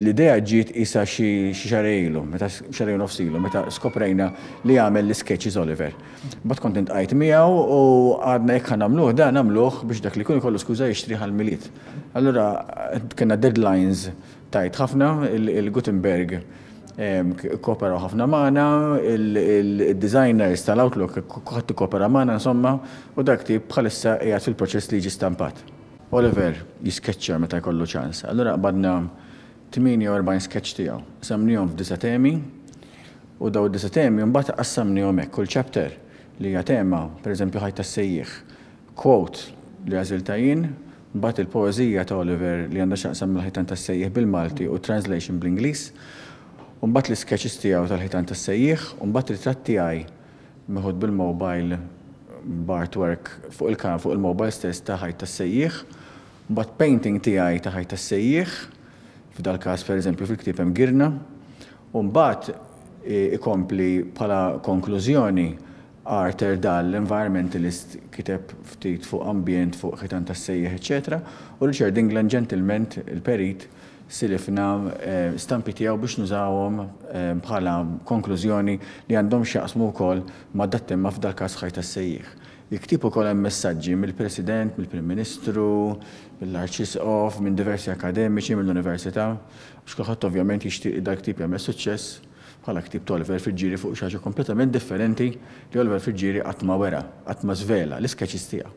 L-idea ġiet qisha xi xahar ilu, meta xahrejn u nofs ilu, meta skoprejna li jagħmel l-iskeċċis Oliver. Imbagħad kont intqajt miegħu u għadna jekk ħa nagħmluh dan nagħmluh biex dak li jkun ikollu skuża jixtrih għall-Milied. Allura kellna deadlines tight ħafna, il-Gutenberg kkooperaw ħafna magħna, id-designers tal-Outlook kulħadd ikkopera magħna insomma u dak ktieb bħalissa qiegħed fil-proċess li jiġi stampat. Oliver jiskeċċja meta jkollu ċans. Allura qbadna 48 skeċċ tiegħu. Qsamnihom f'disa' temi u dawn id-disa' temi mbagħad qassamnihom hekk, kull chapter li hija tema, pereżempju Ħajt tas-Sejjieħ, quote li għażiltha jien, mbagħad il-poeżija ta' Oliver li għandha x'taqsam mal-Ħitan tas-Sejjieħ bil-Malti u translation bl-Ingliż, u mbagħad l-iskeċċis tiegħu tal-Ħitan tas-Sejjieħ, u mbagħad ritratt tiegħi. meħud bil-mobile b'artwork fuq il-kamera fuq il-mobile stess ta' ħajt tas-sejjieħ, mbagħad painting tiegħi ta' ħajt tas-sejjieħ, f'dal-każ pereżempju fil-ktieb hemm girna, u mbagħad ikompli bħala konklużjoni Arthur Dahl, environmentalist, kiteb ftit fuq ambjent, fuq ħitan tas-sejjieħ eċċetera u Richard England, ġentilment, il-perit, silifna stampi tiegħu biex nużawhom bħala konklużjoni li għandhom x'jaqsmu wkoll ma' dak temma f'dal-każ Ħajt għas-Sejjieħ. Il-ktieb ukoll hemm messaġġi mill-President, mill-Prim Ministru, mill-Arċisqof, minn diversi akkademiċi, mill-Università, għax kulħadd ovvjament jixtieq li dal-ktieb jagħmel suċċess bħala ktieb t'Oliver Friggieri fuq xi ħaġa kompletament differenti li Oliver Friggieri qatt ma wera, qatt ma żvela, l-iskeċis tiegħu.